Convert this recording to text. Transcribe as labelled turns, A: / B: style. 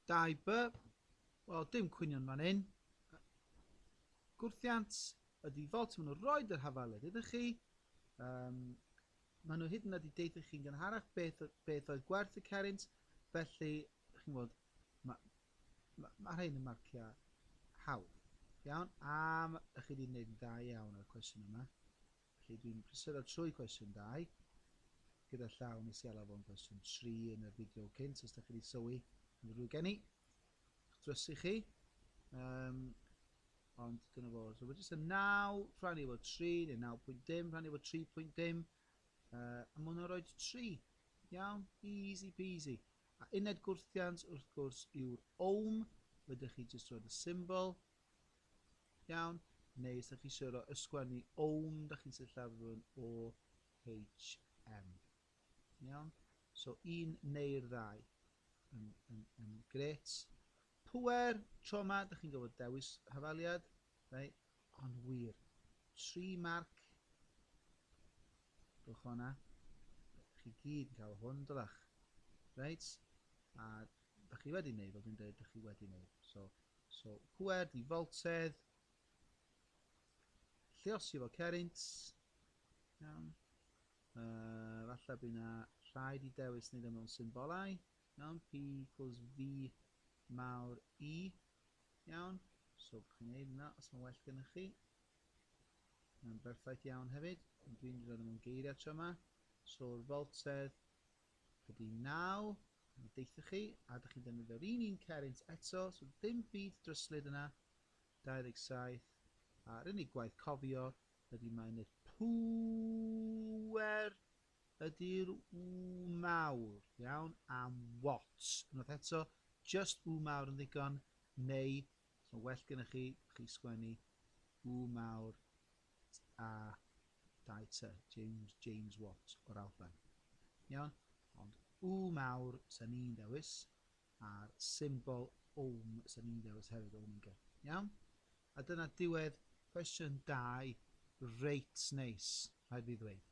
A: Dau by. Wel, dim cwynion fan hyn. Gwrthiant y default maen nhw roed yr hafaled ydych chi. Um, maen nhw hyd yn oed i deithu chi'n gynharach beth, beth oedd gwerth y cerint. Felly, chi'n gwybod, mae ma, ma rhain yn marciau hawdd. Iawn, am ych chi wedi gwneud yn dda iawn ar y cwestiwn yma. Felly, dwi'n prysuro trwy cwestiwn dau, gyda llaw nes i alw fo'n gwestiwn tri yn y fideo cynt, os da chi wedi sylwi, yn rhywbeth gen i, drysu chi, um, ond dyna fo. So, mae jyst y 9 rhannu efo 3, neu 9.dim rhannu efo 3.dim, uh, a mae hwnna'n rhoi 3. Iawn, easy peasy. A uned gwrthiant, wrth gwrs, yw'r ohm, ydych chi jyst roed y symbol, Iawn? Neu os da chi eisiau rhoi ysgwennu own, da chi'n sillafu'n o HM. Iawn? So un neu'r ddau yn, yn, yn gret. Pwer, tro yma, da chi'n gofod dewis hafaliad. Rai, ond wir. Tri marc. Gwch hwnna. Chi gyd yn cael hwn, dylach. Reit? A Dych chi wedi wneud, fel dwi'n dweud, dych chi wedi wneud. So, so pwer, di foltedd, lliosi fo cerint, iawn. Uh, falle bydd yna rhaid i dewis wneud ymwneud symbolau, iawn, P equals V mawr E, iawn. So, bych chi'n gwneud yna, os mae'n well gennych chi. Mae'n berffaith iawn hefyd, dwi'n rhoi mewn geiriau tro yma. So'r foltedd, Ydy, naw, mi deuthoch chi, a dych chi'n defnyddio'r un un cerrynt eto, so dim byd dryslyd yna, 27, a'r unig gwaith cofio ydy mae'n yr pŵer ydy'r w mawr, iawn, am what, unwaith eto, just w mawr yn ddigon, neu Os mae well gennych chi, chi sgwennu U mawr A dau T, James, James Watt o'r Alban. Iawn? Ond U mawr sy'n ni'n ddewis, a'r symbol ohm sy'n ni'n ddewis hefyd, omega. Iawn? A dyna diwedd cwestiwn 2, reit neis, rhaid fi ddweud.